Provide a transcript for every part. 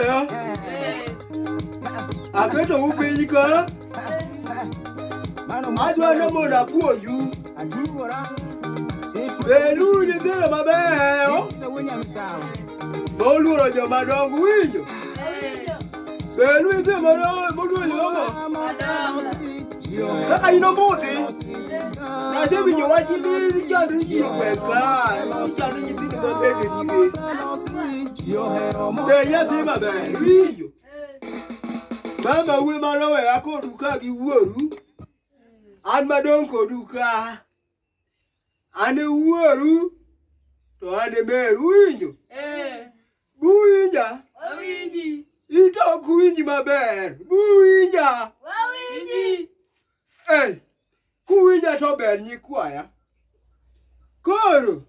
ya aketo u piny ka adwa ni mondo apuonju bedu nyithindo mabeyo moluoro joma dongo winjo bedu nyithindo moluoro joma kaka in omuti nyathi winjo wach ni chandri ji gweng ka sando nyithindo maber e nyige be nyathi maber winjo mama uwe maloweya kodu ka gi wuoru an madong' kodu ka An e wuoru to an e meru winjo. Eh. Buwinja. Awinji. Ito ok winj maber. Buwinja. Wawinji. Eh. Kuwinja to ber nyikwaya. Koro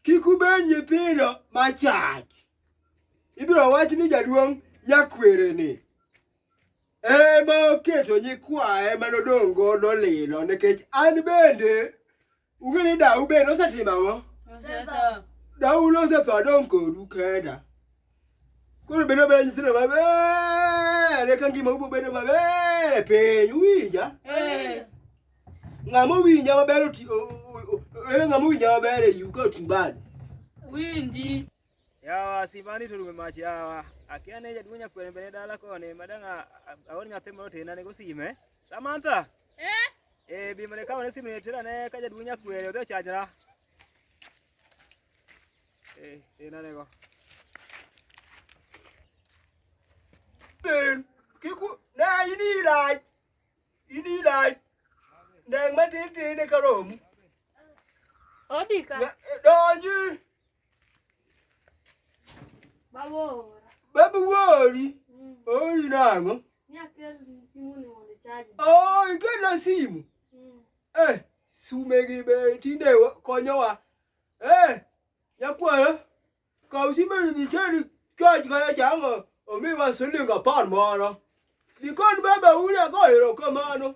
kik ubed nyithindo machach. Ibiro wach ni jaduong' nyakwere ni. ema oketo nyikwaye ma nodong' godo lilo nikech an bende ung'e ni dau bende osetimo ang'o dau nosetho adong' kodu kenda koro bedo beda nyithindo maber eka ngima ubo bedo maber e piny uwinja ng'ama owinja maber oti- o- o- o- en ng'ama owinja maber e yu ka oting' bade winji yawa simani to rume mach yawa akia ne jaduong' nyakwere mbele dala koni madang' aor nyathi moro tena nego sime Samantha eh eh bi mane kawo ne sime ne tena ne ka jaduong' nyakwere odhi ochajra eh tena nego Then kiku na ini lai ini lai nang matin tin ne karom Odika donji Babu wori. Mm. Ori nango. Oh, ikela simu. Mm. Eh, sumegi be tinde konyowa. Eh, nyakwara. Kaw simu ni cheri chwaj kaya chango. Omiwa siling apar moro. Dikon baba uri ago erokamano.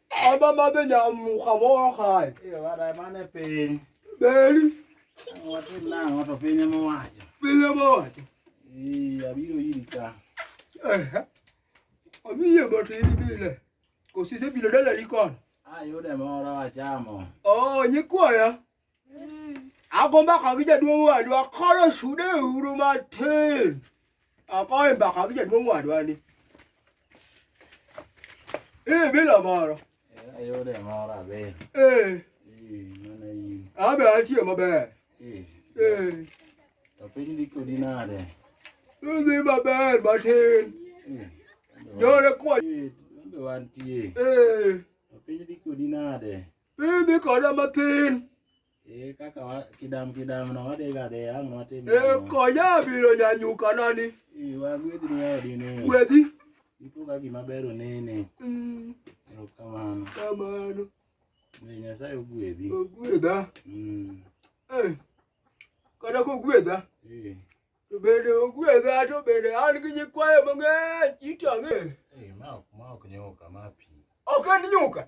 Abamame nyamuka moro kae. Mane piny. Beri. Watim nang'o to piny ema owacho. Piny ema owacho. Ee, abiro iri ka. Amiye matin bile. Kosi isebilo dalali kono? Ayude moro achamo. Oo, nyikwaya. agomba ka gi jaduong' wadwa koro sude uru matin akoe mbaka gi jaduong' wadwa ni ee bila moro ayude moro abe ee abe atie maber ee to piny dhi kodi nade idhi maber matin yore kwa wantie ee to piny dhi kodi nade Idhi koda mathin. Eh, kaka wa kidam kidam no wadhi ga de ang no tim. Eh, konya biro nyanyuka nani. Eh, wa gwedhi ni odi ni. Gwedhi. Ipo ga gima ber onene. Mm. Kamano. Kamano. Ne Nyasaye ogwedhi. Ogwedha. Mm. Eh. Kada kogwedha. Eh. To bende ogwedha to bende an gi nyikwayo mang'eny itang'e. Eh, ma ok ma ok nyuka ma pi. Ok en nyuka.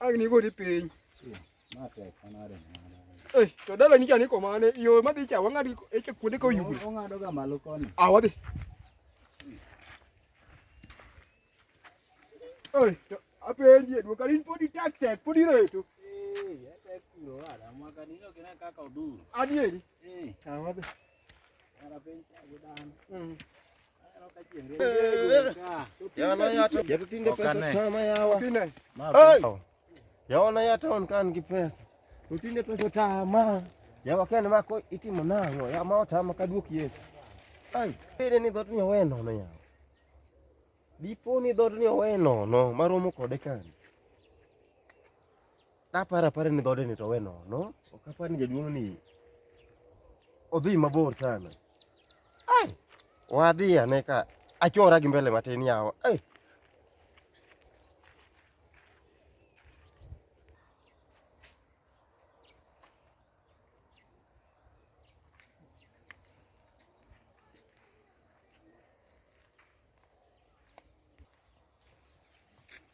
Agni godi piny. Ma tek manade manade. Eh, to dala ni chani komane, yo madhi cha wang'adi eche kuonde ka oyugno. Ong'ado ga malo koni. Ah, wadhi. Oi, to apenji edwo kali podi tek tek podi reto. Eh, ya tek kuro wala, mwaka nino kina kaka oduro. Adieri. Eh. Ah, wadhi. yaona yataon kan gi pesa utinde pesa tama yawakene mako itimo nang'o yama otama kaduok yesu ai pede ni dhot ni owe nono yawa dipo ni dhot ni owe nono maromo kode kani Naparo apara ni dhode ni to we nono. Ok apar ni jaduong' ni odhi mabor sana. Ai, wadhi ane ka achora gi mbele matin yawa. Ai.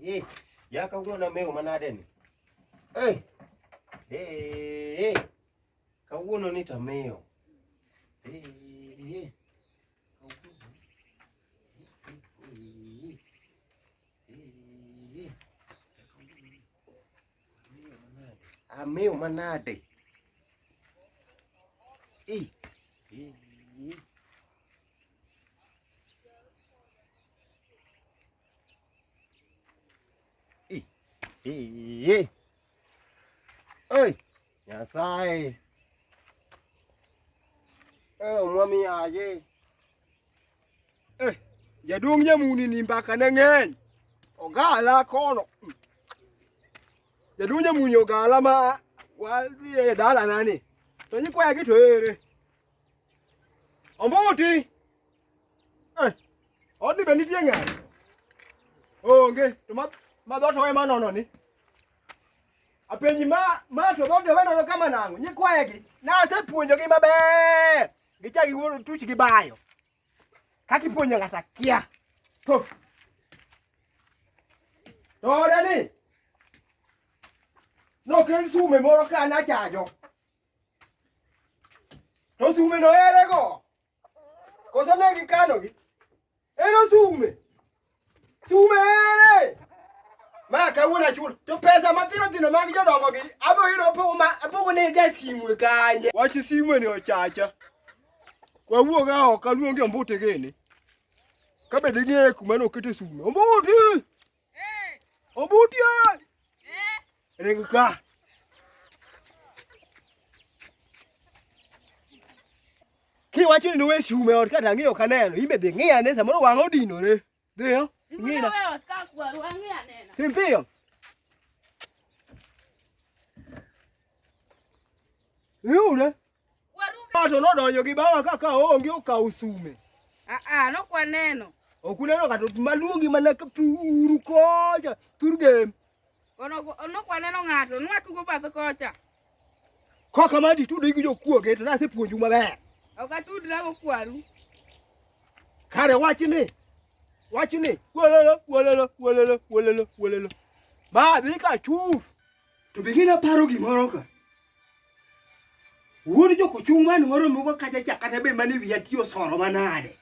Ye, ya ka wuono mewo manade ni. Eh. Eh. Ka wuono ni ta mewo. Eh. Eh. Amewo manade. Eh. Eh. Iye. Oi, Nyasaye. Eh, omwami yaye. Eh, jaduong' nyamuni ni mbaka ne ng'eny. Ogala kono. Jaduong' nyamuni ogala ma wadhi e dalana ni. To nyikwaya gi to ere. Ombuti. Eh. Odi be nitie ng'ato? Onge. To ma ma dhoot owe ma nono ni. Apenji ma ma to dhoot owe nono kama nang'o? Nyikwaye gi. Na asepuonjogi maber. Gicha gi wuon tuch gi bayo. Kaki puonjo ng'ata kia. To. To odani. Nokel sume moro ka nachajo. To sume no ere go? Koso ne gikano gi? Ero sume. Sume ere. Ma kawuono achul. To pesa matino tino mag jodongo gi abiro yudo pogo ma pogo ne ja simwe kanye. Wach simwe ni ochacha. Wawuog oko aluongi ombuti gini. Kabed ing'eyo kuma nokete sume. Ombuti! Ombuti! Ring ka. Kiwacho ni nowe shume ot kata ng'iyo ka neno, imbe dhi ng'iya ne samoro wang' odinore. Dhiyo, ng'ina. Tim piyo. Yude. Waruga. nodonjo gi bawa kaka onge okawo sume. Ah ah, no kwa neno. Ok uneno kata maluongi mana ka puru kocha, tur game. Ono ono kwa neno ng'ato, nwa tugo bath kocha. Koka madi tudo gi jokuoge to nasepuonju maber. Ok atudra go kwaru. Kare wachni. Wachni. Wololo, wololo, wololo, wololo, wololo. Ma dhi ka chuf. To be gina paro gimoro ka. Wuod joko chung man waro mogo kaja cha kata be mani wiya tiyo soro manade.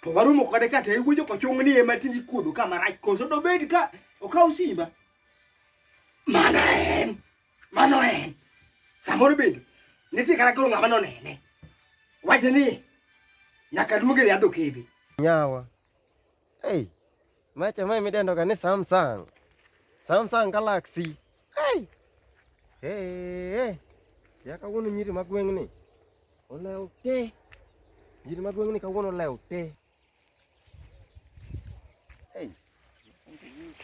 To waro mogo kata kata e wuod joko chung ni ema tindi kuodo ka marach koso do bed ka okaw simba. Mana en. Mano en. Samoro bende nitie kata koro ng'ama nonene. Wache ni nyaka luonge riadho kebe. Nyawa. Hey, macha mai midendo ka ni Samsung. Samsung Galaxy. Hey. Hey, hey. Ya kawuono nyiri ma gweng' ni olew te. Nyiri ma gweng' ni kawuono olew te. Hey.